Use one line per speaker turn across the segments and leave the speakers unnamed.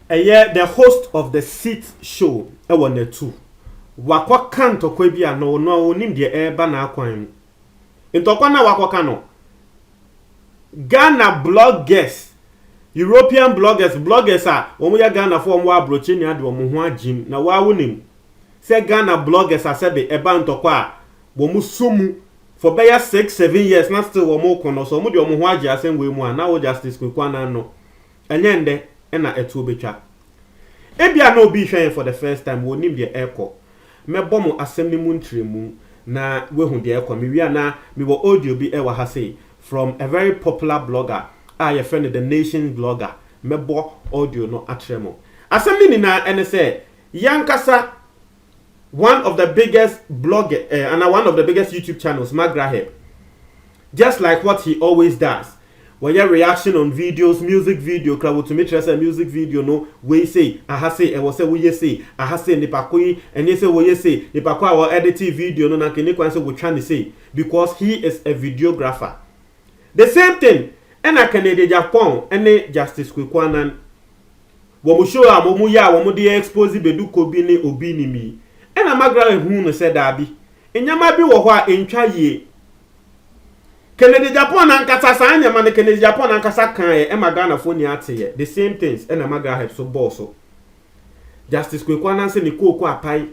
ɛyɛ the host of the seat show ɛwɔ natu wakɔka ntɔkwa bi a na ɔno a ɔnim deɛ ɛreba n'akwan mu ntɔkwa no a wakɔka no ghana bloggers european bloggers bloggers a wɔn yɛ ghana fo wɔn wɔ aburokyi nea de wɔn ho agyim na wɔawo nim sɛ Ghana bloggers asɛde ɛba ntɔkwa a wɔn sɔ mu for bɛyɛ six seven years na still wɔn reko no sɛ wɔn de wɔn ho agye asɛm wei mu a na wo Justice Kweku Annan no ɛnyɛ ndɛ ɛna ɛtoɔ bɛtwa ebia na obi rehwɛ yɛn for the first time wɔnim deɛ ɛrekɔ mɛbɔ mo asɛm no mu ntrɛmu na wahu deɛ ɛrekɔ mewie a na mewɔ audio bi ɛwɔ ha sei from a very popular blogger a yɛfrɛ no the nation's blogger mɛbɔ audio no akyerɛ mo asɛm no nyinaa ɛne sɛ Y'ankasa one of the biggest blogger eh, anaa one of the biggest YouTube channels, McGrathep. Just like what he always does. Wɔyɛ reaction on videos, music video kra wotumi kyerɛ sɛ music video no wei sei, aha sei, ɛwɔ sɛ woyɛ sei, aha sei, nipa ko yi, ɛnyɛ sɛ wɔyɛ sei, nipa ko a wɔ editee video no na nka ɛni kwan sɛ wotwa ne sei because he is a videographer. The same thing ɛna Kennedy Agyapong ne Justice Kweku Annan wɔn show a wɔn yɛ a wɔn de expose Bedu Ko bi ne obi nim yi, ɛna Magdalene huu no sɛ daabi, nneɛma bi wɔ hɔ a entwa yie. Kennedy Agyapong ankasa saa nneɛma no Kennedy Agyapong ankasa kaeɛ ɛma Ghanafoɔ nyinaa teeɛ, the same things ɛna Magdalene nso bɔɔ so. Justice Kweku Ananse ne kooko apae.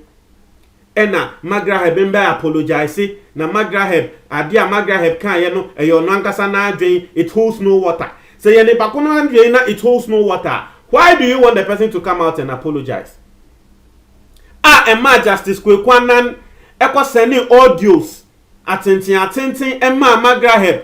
Ɛna Magraheb mbɛ apologise na Magraheb adeɛ a Magraheb kaeɛ no ɛyɛ ɔno ankasa n'adwen it holds no water sɛ yɛ nipa ko no adwen na it holds no water a why do you want the person to come out and apologise a ɛmaa Justice Kweku Annan ɛkɔ sɛnee audios atenten atenten ɛmaa Magraheb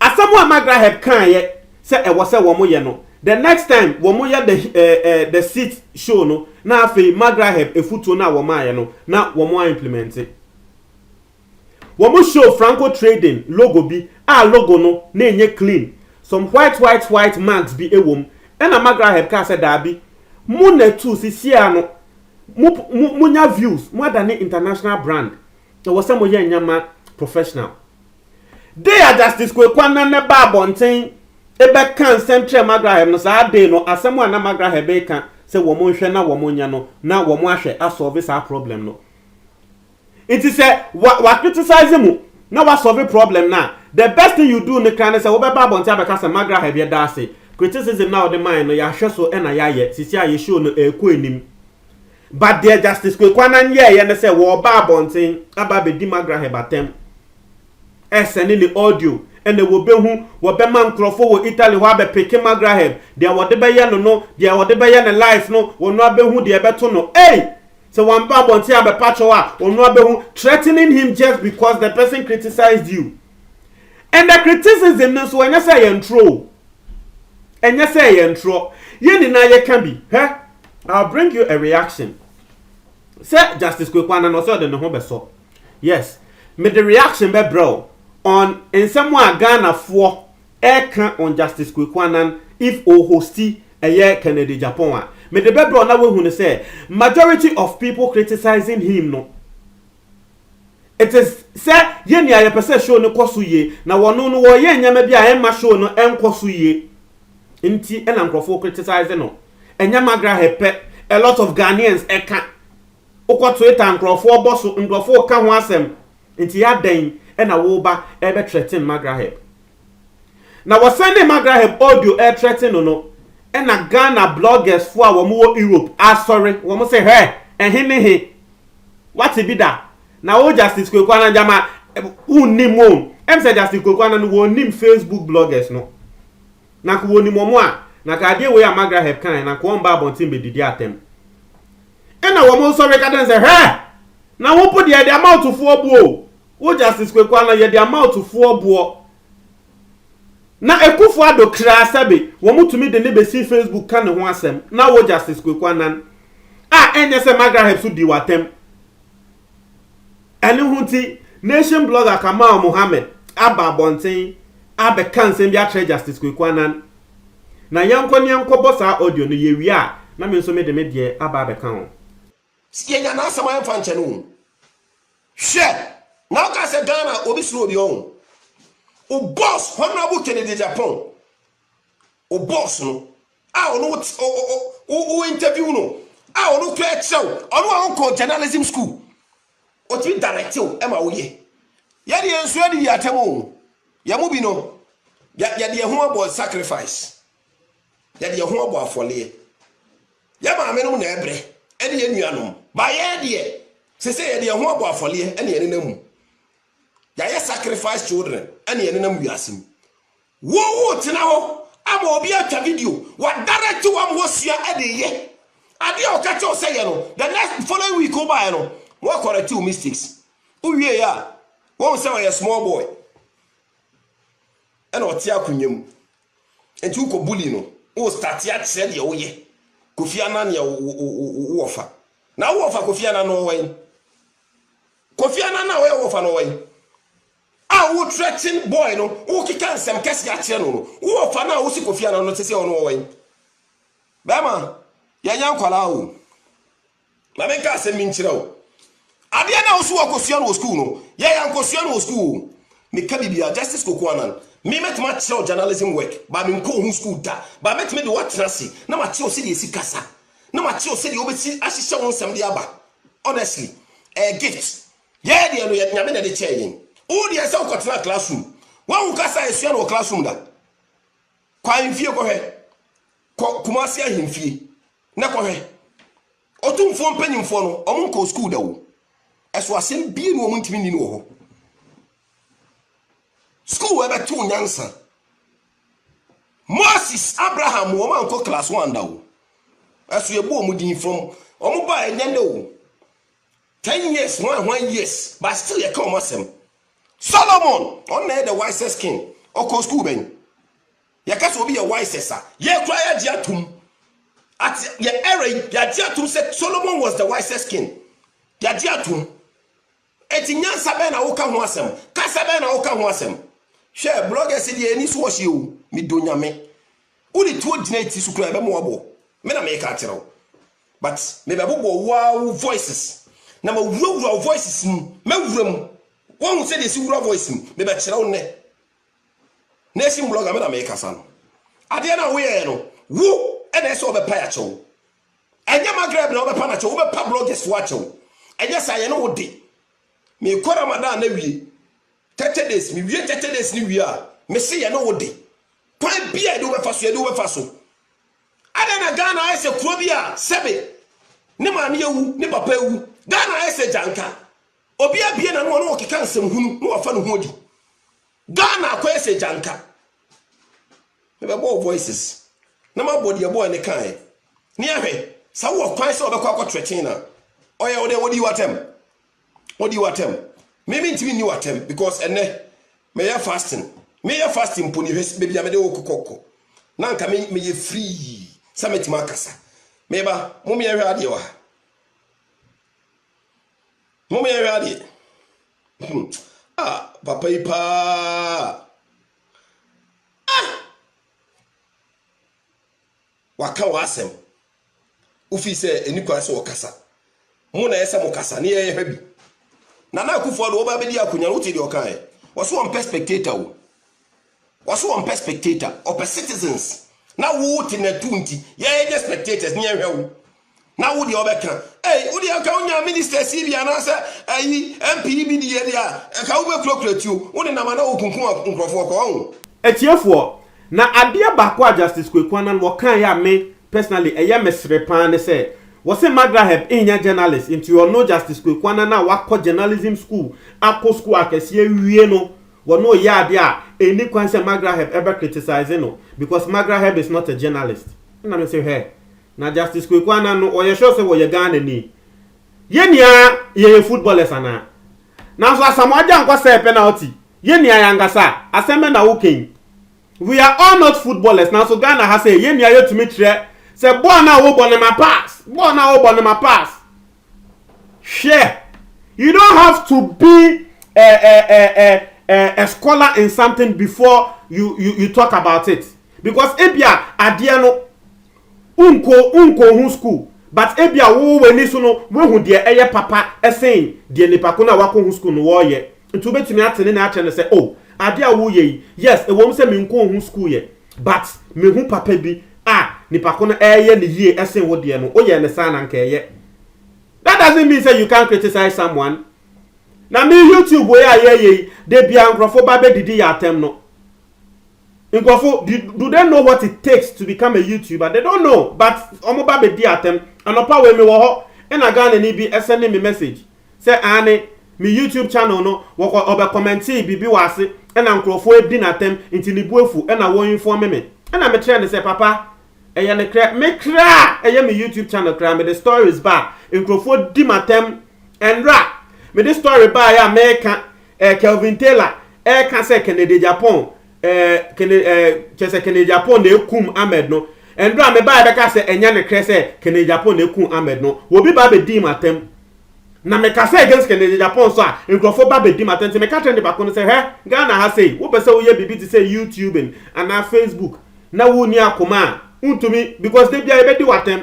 Asɛm a Margaret Hebb kaeɛ sɛ ɛwɔ sɛ wɔyɛ no, the next time wɔyɛ the, eh, eh, the seat show no, na afei Margaret Hebb afutuo no a wɔmaeɛ no, na wɔaimplemɛnte. Wɔn show Franco Trading logo bi a logo no na ɛnyɛ clean, some white white white marks bi wɔ mu, ɛna Margaret Hebb kaa sɛ daabi, mo na ɛtu sisiaa no, mo, mo, monya views, moadane international brand, ɛwɔ sɛ moyɛ nneɛma professional. Dei a Justice Kweku Anane baa abɔnten bɛkaa nsɛm kyerɛɛ Magrahem no, saa dei no, asɛm a na Magrahem reka sɛ wɔn nhwɛ na wɔn nyɛ no, na wɔn ahwɛ asɔlve saa problem no. Nti sɛ wa, wa criticize mu na wasɔlve problem no a, the best thing you do no kra ne sɛ wobɛba abɔnten abɛka sɛ Magrahem yɛda ase, criticism no a wode mae no yɛahwɛ so na yɛayɛ, sisi a yɛ show no ɛrekɔ anim. But deɛ Justice Kweku Annan yɛɛyɛ ne sɛ wɔɔba abɔnten aba abɛdi Magraheb atɛm, ɛɛsɛne ne audio, ɛna wɔbɛhu, wɔbɛma nkorɔfoɔ wɔ Italy hɔ abɛpeke Magraheb, deɛ wɔde bɛyɛ no no, deɛ wɔde bɛyɛ ne life no, wɔno ara bɛhu deɛ ɛbɛto no, ei! Sɛ wɔamba abɔnten abɛpa kyɛw a, wɔno ara bɛhu, threatening him just because the person criticised you. And the criticism no nso, ɛnyɛ sɛ ɛyɛ ntorɔ o, ɛnyɛ sɛ ɛyɛ ntorɔ, yɛn nyinaa yɛka bi, hwɛ, I'll bring you a reaction sɛ Justice Kweku Annan ɔsɛ ɔde ne ho bɛsɔ yes mede reaction bɛbrɛ o on nsɛm a Ghanafoɔ ɛka on Justice Kweku Annan if o hosti ɛyɛ Kennedy Agyapong a mede bɛbrɛ o na wahu no sɛ majority of people criticising him no It is sɛ yɛ nea yɛpɛ sɛ show no kɔ so yie, na wɔno no wɔyɛ nneɛma bi a ɛmma show no nkɔ so yie nti na nkurɔfoɔ criticize no. Ɛnyɛ Magrahe pɛ, a lot of Ghanaians ɛka. Wokɔ Twitter nkurɔfoɔ bɔ so, nkurɔfoɔ ka ho asɛm. Nti adɛn na woba ɛbɛ threaten Magrahe? Na wɔsan de Magraheb audio ɛretrɛte no no ɛna Ghana bloggers foɔ a wɔn wɔ Europe asɔre, wɔn se hɛ, ɛhe ne he? Wate bi da? Na wo Justice Kweku Annan gyama wonnim o, ɛm sɛ Justice Kweku Annan no wɔnnim Facebook bloggers no. Na nka wɔnim wɔn a, na nka adeɛ wei a Magraheb kaeɛ no anka wɔn mba abɔnten bɛdidi atɛm. Ɛna wɔn sɔre ka kyerɛ no sɛ hɛ! Na wo mpo deɛ ɛde amount foɔ bu o, Wo Justice Kweku Anah yɛ de ama ɔtufoɔ boɔ. Na Akufo Addo kraa sɛbe wɔn tumi de ne bɛsi Facebook ka ne ho asɛm na wo Justice Kweku Anan a ɛnyɛ sɛ Magraheb nso di w'atɛm. Ɛno ho nti Nation Blogger Kamal Mohammed aba abɔnten abɛka nsɛm bi akyerɛ Justice Kweku Anan. Na yɛnkɔ ne yɛnkɔbɔ saa audio no, yɛwie a na me nso mede me deɛ aba abɛka ho. Yɛnya
n'asɛm a ɛmfa nkyɛ no o. Hwɛ, na woka sɛ Ghana obi soro obi ɔn. O boss Honorable Kennedy Agyapong, o boss no a ɔno wo interview no a ɔno kura kyerɛ wo, ɔno a ɔnkɔ journalism school, ɔtumi direct wo ɛma woyɛ. Yɛde yɛn nso adi atam o. Yɛn mu bi no, yɛde yɛn ho abɔ sacrifice. Yɛde yɛn ho abɔ afɔleɛ. Yɛ maamenom na ɛbrɛ, ɛne yɛ nuanom. Ba yɛ deɛ, sesei yɛde yɛn ho abɔ afɔreɛ ɛne yɛ nenam mu. Yɛayɛ sacrifice children ɛne yɛ nenam wiase mu. Wo wo tena hɔ ama obi atwa video, wa direct wam hɔ sua ɛde yɛ. Adeɛ a ɔka kyɛw sɛ yɛ no, the next following week wo baɛ no, wa correct wo mistakes. Wo wie yɛ a, wo hu sɛ ɔyɛ small boy. Ɛna ɔte akonwa mu. Nti wokɔ bully no wo starte akyerɛ deɛ woyɛ Kofi Annan yɛ wo wɔfa na wo wɔfa Kofi Annan no ɔwɔ yi Kofi Annan na ɔyɛ wɔfa no ɔwɔ yi a wo threaten boy no wo keka nsɛm kɛse akyerɛ no no wo wɔfa no a wosi Kofi Annan no te sɛ ɔno ɔwɔ yi bɛma yɛnya nkwalaa o Ma menka asɛm bi nkyerɛ wo. Adeɛ no a wo so wɔkɔsua no wɔ sukuu no, yɛ yɛankɔsua no wɔ sukuu o. Meka biribiara, Justice Koku Annan, me mɛtumi akyerɛ wo journalism work, but menkɔɔ ho sukuu da, but mɛtumi de wo atena ase na makyerɛ wo sɛdeɛ yɛsi kasa, na makyerɛ wo sɛdeɛ wobɛsi ahyehyɛ wo nsɛm de aba. Honestly, ɛyɛ gift. Yɛn deɛ no, yɛ Nyame na ɛde kyɛɛ yɛn. Wo deɛ ɛsɛ sɛ wokɔtena classroom. Woahu kasa a yɛsua no wɔ classroom da? Kɔ ahemfie kɔhwɛ. Kɔ Kumasi ahemfie. Na kɔhwɛ. Ɔtumfoɔ mpanyimfoɔ no, wɔn nkɔɔ sukuu da o. Ɛso asɛm bie na wɔn ntumi nni no wɔ hɔ. Sukuu ɛbɛto nyansa. Moses, Abraham, wɔn ankɔ class one da o. Ɛso yɛbɔ wɔn din from wɔn ba ɛnyɛ ne o. Ten years, one one years, but still yɛka wɔn asɛm. Solomon, ɔno na ɛyɛ the wisest king. Ɔkɔɔ sukuu bɛn? Yɛka sɛ obi yɛ wisest a, yɛn koraa yɛagye atom. At yɛ era yi, yɛagye atom sɛ Solomon was the wisest king. Yɛagye atom. Eti nyansa bɛn na woka ho asɛm? Kasa bɛn na woka ho asɛm? Hwɛ, bloggers deɛ ani so wɔhye o, medɔ nyame. Wode tuo gyina eti so koraa ɛbɛma wabɔ. Me na meka akyerɛ wo. But mebɛbobɔ wo ara wo voices na mawurawura wo voices mu, mɛwura mu. Woahu sɛdeɛ ɛsi wura voice mu? Mebɛkyerɛ wo nnɛ. Nation blogger me na mekasa no. Adeɛ no a woyɛɛ no, wo ɛna ɛsɛ ɔbɛpa akyɛw. Ɛnyɛ Magreb na ɔbɛpa no akyɛw, wobɛpa bloggers fo akyɛw. Ɛnyɛ saa yɛne wo de. Mekɔ Ramadan na wie. 30 days, me wie 30 days ne wie a, mese yɛne wo de. Kwan bi a yɛde wobɛfa so, yɛde wobɛfa so. Adɛn na Ghana ayɛ sɛ kuro bi a sɛbe ne maame awu, ne papa awu. Ghana ayɛ sɛ gyanka. Obi abue n'ano a na ɔkeka nsɛm hunu na wafa ne ho adi. Ghana akɔyɛ sɛ gyanka. Mebɛbɔ wo voices na mabɔ deɛ boy no kaeɛ ne yɛahwɛ sɛ wowɔ kwan sɛ wɔbɛkɔ akɔ threaten no a. Ɔyɛ wo dɛn? Ɔdii w'atɛm? Ɔdii w'atɛm? Me mentumi nni w'atɛm because ɛnɛ meyɛ fasting. Meyɛ fasting mpo ne hwɛ baabi a mede wo kokɔkɔ na nka me meyɛ free sɛ mɛtumi akasa. Meba, mo meɛhwɛ adeɛ wɔ ha. Mom yɛnhwɛ adeɛ. Hmm. Ah, papa yi paa. Ah! Waka w'asɛm. Wofi sɛ ɛni kwan sɛ wɔkasa. Mo na ɛyɛ sɛ mo kasa ne yɛhwɛ bi. Nana Akufo-Addo wɔba abɛdi akonnwa no wote deɛ ɔkaeɛ. Wɔso wɔmpɛ spectator o. Wɔse wɔmpɛ spectator, wɔpɛ citizens. Na wo te natu nti, yɛnyɛ spectators ne yɛnhwɛ wo. Na wo deɛ wɔbɛka, ei, wo deɛ nka wonya ministers yi bi anaasɛ ayi MP yi bi deɛ deɛ a, nka wobɛkurakura tuo, wo nenam a na wokunkum nkurɔfoɔ kɔ, wahu. Atiefoɔ,
na adeɛ baako a Justice Kweku Annan wɔkaeɛ a me personally ɛyɛ me sere paa ne sɛ, wɔse Magraheb nnyɛ journalist nti ɔno Justice Kweku Annan a wakɔ journalism school akɔ school akɛseɛ awie no, Wɔ no yɛ ade a ɛnni kwan sɛ Magraheb bɛ criticize no because Magraheb is not a journalist. Ɛna me se hwɛ, na Justice Kweku Annan no ɔyɛ sure sɛ ɔyɛ Ghanani? Yɛn nyinaa yɛyɛ footballers anaa? Nanso Asamoah Gyankwah sɛɛ penalty, yɛn nyinaa yɛn ankasa a, asɛm bɛn na woka yi? We are all not footballers nanso Ghana ha sɛɛ, yɛn nyinaa yɛtumi kyerɛ sɛ bɔɔl no a wobɔ no ma pass, bɔɔl no a wobɔ no ma pass. Hwɛ, you don't have to be a a a a a, a scholar in something before you you you talk about it because ebia adeɛ no unko unko ho school but ebia wo w'ani so no woahu deɛ ɛyɛ papa ɛsen deɛ nipa ko no a wakɔ ho school no wɔyɛ Nti wobɛtumi ate ne nɛ akyerɛ no sɛ, oh, adeɛ a woreyɛ yi, yes, ɛwom sɛ menkɔɔ ho sukuu yɛ, but mehu papa bi a nipa ko no reyɛ no yie sen wo deɛ no, woyɛɛ no saa na nka ɛyɛ. That doesn't mean sɛ you can't criticize someone. Na me YouTube wei a yɛreyɛ yi, da biara nkorɔfoɔ ba bɛdidi yɛ atɛm no. Nkurɔfo do do they know what it takes to become a YouTuber they don't know but wɔn ba bɛ di atɛm anɔpa wei me wɔ hɔ ɛna Ghana ni bi send me message sɛ aane me YouTube channel no wɔkɔ ɔbɛ commentee biribi wɔ ase ɛna nkurɔfo adi no atɛm nti ne bo afu ɛna wɔ informe me ɛna me kyerɛ no sɛ papa ɛyɛ no krɛ me kraa ɛyɛ me YouTube channel kraa me de stories ba a nkurɔfo di m'atɛm ɛnra me de story baeɛ a mɛka Eh, Kelvin Taylor ɛka sɛ Kennedy Japan eh, Kennedy, eh, kyɛ sɛ Kennedy Japan na ekum Ahmed no ɛndu a mebaa ɛbɛka sɛ ɛnyɛ ne krɛ sɛ Kennedy Japan na ekum Ahmed no wɔbi ba abɛdi mu atɛm na meka sɛ against Kennedy Japan so a nkurɔfoɔ ba abɛdi mu atɛm nti meka kyerɛ ne baako no sɛ hɛ Ghana ha sei wopɛ sɛ woyɛ biribi te sɛ YouTube anaa Facebook na wonni akoma a wontumi because da biara yɛbɛdi w'atɛm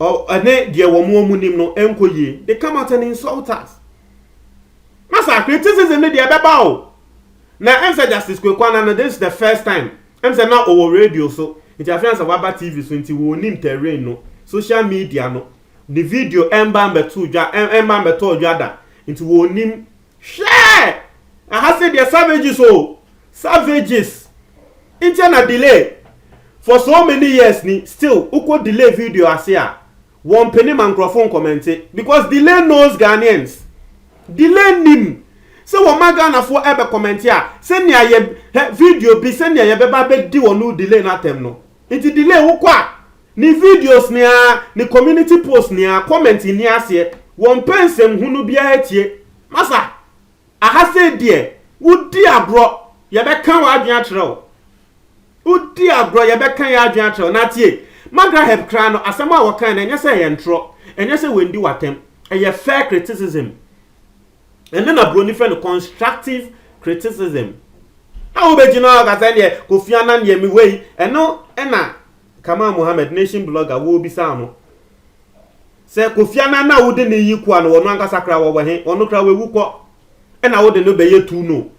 ɛne deɛ wɔn a wɔn nim no nkɔ yie they come out and insult us na saa criticism no deɛ ɛbɛba o na ɛm sɛ justice Kweku Annan no this is the first time ɛm sɛ na ɔwɔ radio so nti afei ansa waba tv so nti wɔn nim terrain no social media no ne video ɛmba mbɛto dwa ɛmba mbɛtɔ dwa da nti wɔn nim Hwɛ! Aha se deɛ savages o, savages, ntia na delay for so many years ni still wokɔ delay video ase a wɔmpene ma nkurɔfo nkɔmɛnte because delay knows Ghanaians, delay nim sɛ wɔma Ghanafoɔ ɛbɛ kɔmɛnte a sɛnea yɛ hɛ video bi sɛnea yɛbɛba abɛdi wɔn delay no atɛm no. Nti delay wo kɔ a ne videos ne aa ne community post ne aa comment nni aseɛ wɔ mpɛ nsɛm hunu biara tie masa aha sei deɛ wo di agorɔ yɛ bɛ ka wɔ adwene akyerɛ wo wo di agorɔ yɛ bɛ ka yɛ adwene akyerɛ wo na tie magraheb koraa no asɛm a wɔ kae no ɛnyɛ sɛ ɛyɛ ntorɔ ɛnyɛ sɛ wɛndi wɔ atɛm ɛyɛ fair criticism Ɛno na Buroni frɛ no constructive criticism. A wobɛgyina hɔ aka sɛ deɛ Kofi Annan deɛ me wei. Ɛno na Kamal Mohammed, nation blogger, wɔbisaa no. Sɛ Kofi Annan na wode ne yi koa no, wɔn ankasa kra wɔwɔ he, wɔn kra wɔawu kɔ. Ɛna wode no bɛyɛ tu no.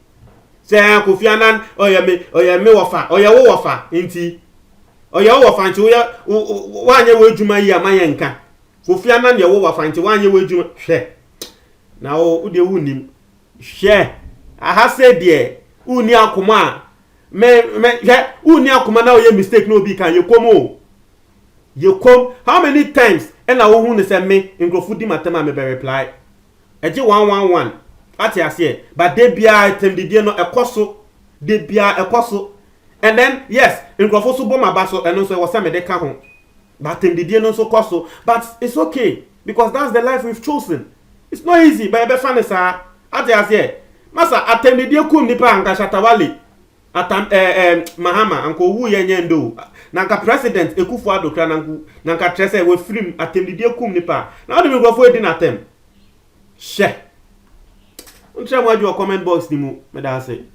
Sɛ Kofi Annan ɔyɛ me ɔyɛ me wɔfa, ɔyɛ wo wɔfa nti. Ɔyɛ wo wɔfa nti woyɛ woanyɛ w'adwuma yi a ma yɛnka. Kofi Annan yɛ wo wɔfa nti woanyɛ w'adwuma. Hwɛ. Na wo wo deɛ wonnim. Hwɛ, aha sɛ deɛ wonni akoma a me me hwɛ wonni akoma na woyɛ mistake na obi kan yɛkɔm o. Yɛkɔm how many times ɛna wohu no sɛ me nkurɔfo di m'atɛm a mebɛ reply. Ɛgye one one one ate aseɛ but da biara atɛmdidie no ɛkɔ so da biara ɛkɔ so and then yes nkurɔfo so bɔ m'aba so ɛno nso ɛwɔ sɛ mede ka ho but atɛmdidie no nso kɔ so but it's okay. because that's the life we've chosen it's not easy but yɛbɛfa no saa ate aseɛ masa atɛndideɛ kum nipa anka shatawale atam ɛɛ eh, eh, mahama anka owu yɛ nyɛ ndo na anka president ekufo adokra na nku na anka kyerɛ sɛ wafirim atɛndideɛ kum nipa na ɔde nkurɔfoɔ edi n'atɛm hyɛ nkyerɛ mo adwuma comment box ni mu meda ase